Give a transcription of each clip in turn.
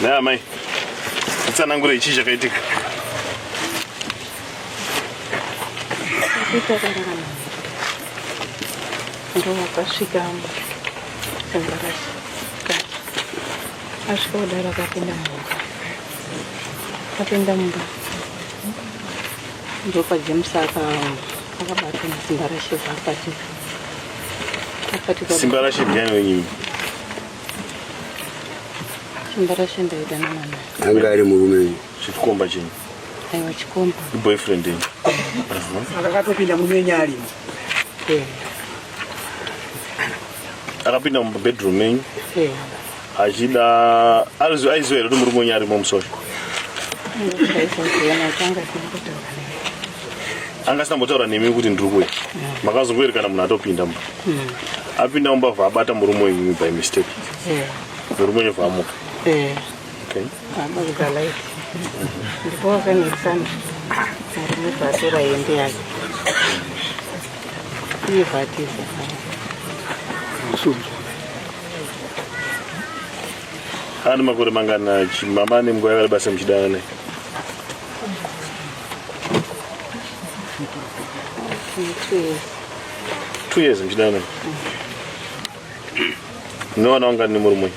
Naya mai, itsanangure ichi chakaitika. Ndo wakasvika mu embarasi. Asvika kudara akapinda mumba. Akapinda mumba. Ndopa James aka akabata simba rashe zvakati. Simba rashe ndiani wenyini? Simba rashe ndaida namana. Anga ari murume. Chikomba chenyu. Aiwa chikomba. Boyfriend yenyu. Akatopinda munyenya alimo. Yeah. akapinda mubedroom menyu achida aiziva here kuti murume wenyu arimo musori anga asina mbotaura nemi kuti ndiri kuya makazongoerekana munhu atopinda mba hmm. apinda mumba vha abata murume wenyu by mistake eh. murume wenyu vhaamuka eh. ndipo wakanetsana murume vhatora hembe yake iye vhatiza Ane makore mangana mama ane nguva yavari basa muchidana naye? Two years muchidana naye. Munowana wangani nemurume?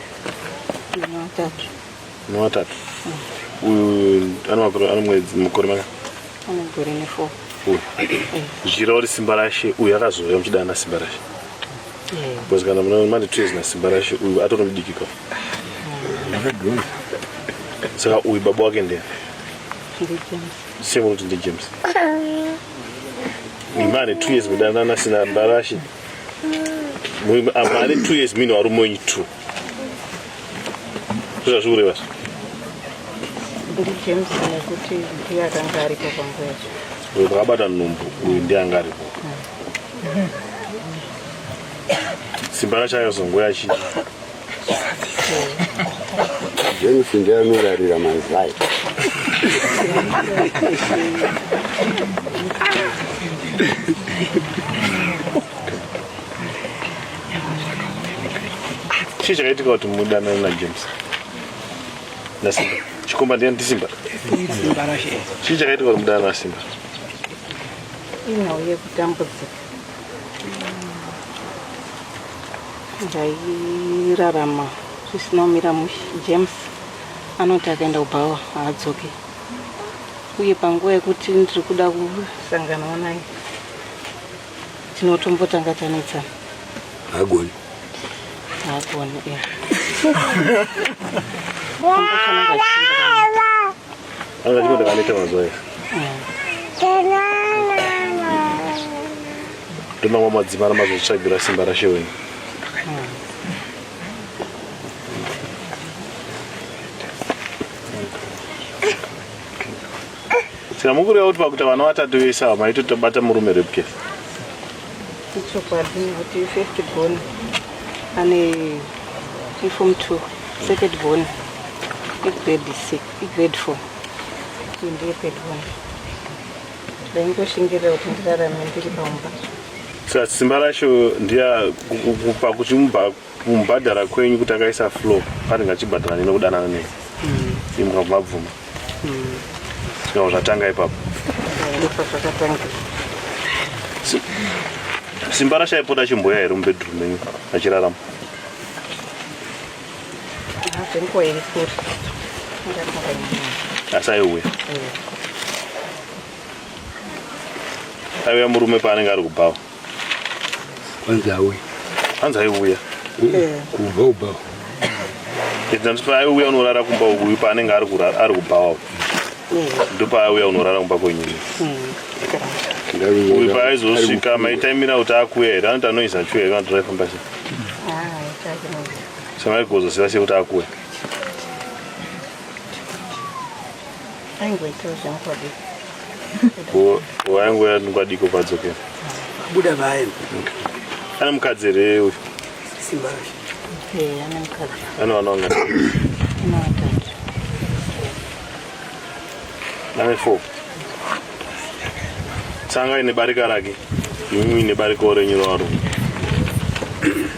Vana vatatu. Newatatu. Uyu ano makore ano mwedzi mukore maka. Ano gore ne 4. Uyu. Zvira uri simba rashe uyu akazouya muchida ana simba rashe. Because kana muna mane two years na simba rashe uyu atori mudiki kwa. Akadhura. Saka uyu baba wake ndiye. Ndi James. Same kuti ndi James. Imane two years mudanana sina mbarashe. Mwe amane two years mino ari mwenyu two. zvazvikureva ndijames nekuti ndiye akanga aripo panguva yacho uyo pakabata nhumbu uyu ndiye anga aripo simba racho ayozongo yachi james ndiye anorarira mazai chii chakaitika kuti mudanana najames nasimba chikomba ndiani ndisimba chii chakaitika kuti mudanana nasimba inhau yekutambudzika ndairarama zvisina kumira mushe james anoti akaenda kubhawa haadzoke uye panguva yekuti ndiri kuda kusanganawo naye tinotombotanga tanetsana hagoni hagoni ya anga chikoda kaneta mazuva aya ndonamwa madzimara mazotsvagira simba rashe wenyu Saka mukureva kuti pakuti vana vatatu vese ava maito tabata murume rape case. Ichokwadi kuti first born ane inform two second born igrade six igrade four ndiye third born ndaingoshingirira kuti ndirarame ndiri pamba. Saka simba racho ndiya pakuti mubva kumubhadhara kwenyu kuti akaisa flow paringe achibhadhara nene kudanana nei mm. imukabva mabvuma mm. zvikawo zvatanga ipapo simba rashaipota chimboya here mubedroom menyu achirarama asi aiuya aiuya murume paanenge ari kubhawa Hanzi auya. Hanzi aiuya. Eh. Kubva ubhawa. Ndandiswa aiuya unorara kumba uyu paanenge ari kurara ari kubhawa. Eh. Ndopaaiuya unorara kumba kwenyini. Hmm. Uyu paaizosvika maitaimira kuti akuya here anoti anoisa chuya here kana tiraifamba se. Samaigozosiva sekuti akuya. aingoitawo zvamukodi waingo yanikwadiko padzoke buda vayo ana mukadzi here uyu ana vana vanga ane four tsanga ine barika rake imimi ine barikawo renyu raro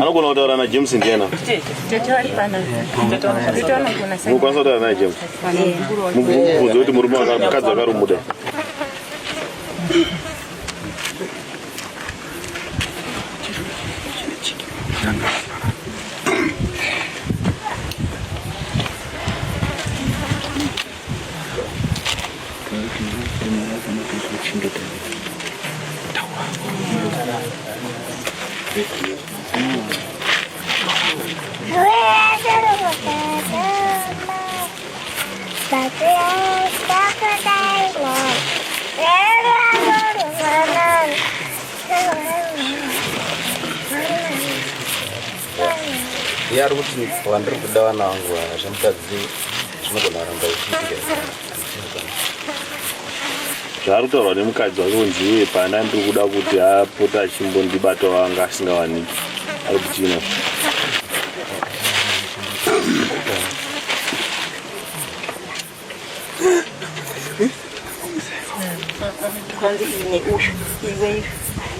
anogona kutaura najames ndiana mukwanisa kutaura naye james mubvunze kuti murume wakadzi akarumuda Yari kuti vandiri kuda vana vangu vaya zvamutadzii zvaari kutaurwa nemukadzi wake kunzi iye pana ndiri kuda kuti apota achimbondibata wanga asingawaniki ari kuchina kwanzi ine ushu iwe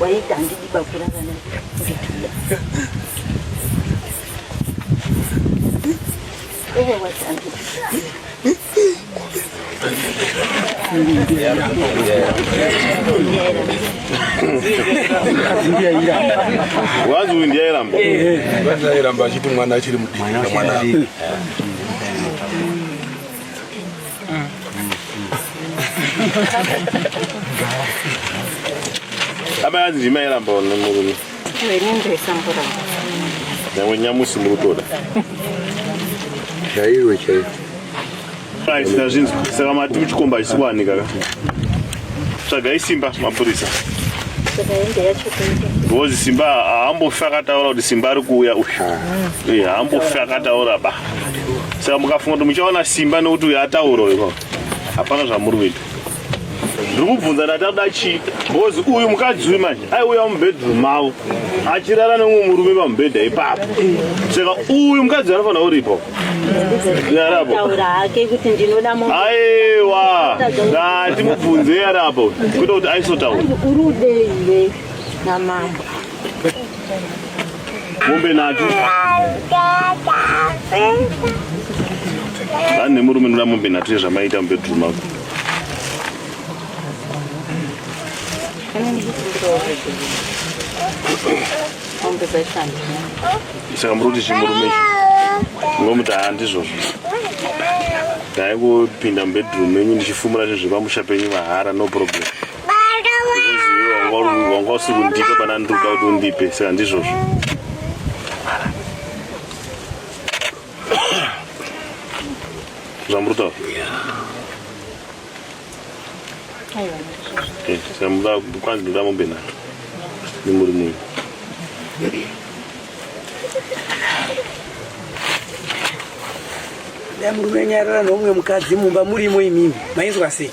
waita handidi bakura kana ndikida wanzi uyu ndiye airamba wanzi airamba achiti mwana achiri mudiki mwana amai anzi ndimairamba nemurume Nyamwe nyamusi muri kutoda. Chaiwe chaiwe. Aisina zvinzi saka mati muchikomba haisi kuwanika ka. Tsvagai simba mapurisa. Ngozi simba haambofi akataura kuti simba ari kuuya uyu. Eh, haambofi akataura ba. Saka mukafunga kuti muchaona simba nekuti uyu ataura uyu. Hapana zvamuri kuita. ndiri kubvunza ndati akuda chii bcoz uyu mukadzi uyu manje aiuya mubedroom mavo achirara nemumwe murume pamubhedha ipapo saka uyu mukadzi anofanira uripo yarapo aiwa ndati mubvunze yarapo kuita kuti aisotaura mombe natu vane murume noda mombe natu yezvamaita mubedroom ako saka muri kuti chimurume ichi ngomuti haa ndizvozvo dai kupinda mubedroom menyu ndichifumura zvinhu zvepamusha penyu mahara no problem wanga usiri kundipa pana ndiri kuda kuti undipe saka ndizvozvo zvamuri taura samuda kwanzi ndoda mombe nayo nemuri munhu damurume nyarara nomwe mukadzi mumba murimo imimi mainzwa sei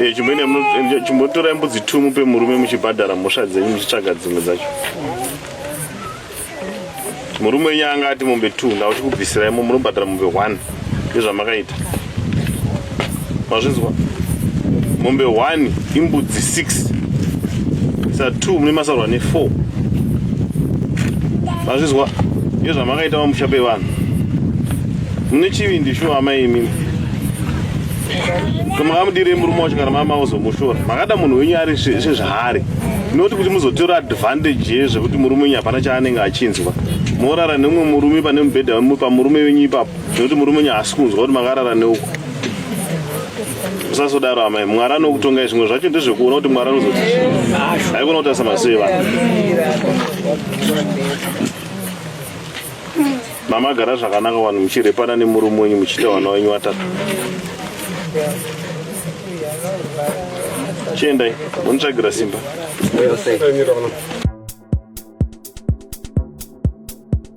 Eh, chimwene eh, chimbotorai mbudzi tu mupe murume muchibhadhara mhosva dzenyu muchitsvaga dzimwe dzacho murume wenyu anga ati mombe two ndauti kubvisira imo munobhadhara mombe one ndezvamakaita mazvinzwa mombe 1 imbudzi 6 sa 2 mune masarwa ne 4 mazvinzwa iyo zvamakaita vamusha pevanhu mune chivindi shuwa amai imimi kamakamudirei murume wacho kana mama uzomushora makada munhu wenyu ari sezvaari noti kuti muzotora advantage yezvekuti murume wenyu hapana chaanenge achinzwa morara nemumwe murume pane mubhedha wemupa murume wenyu ipapo Nekuti murume unya haasi kunzwa kuti makarara neuku. Usasodaro amai, Mwari anokutongai zvimwe zvacho ndezvekuona kuti Mwari anozoti. Haikona kuti asamasei vanhu. Mama gara zvakanaka vanhu muchirepana nemurume wenyu muchiita vana wenyu watatu. Chiendai, munitsvagira simba. Well said.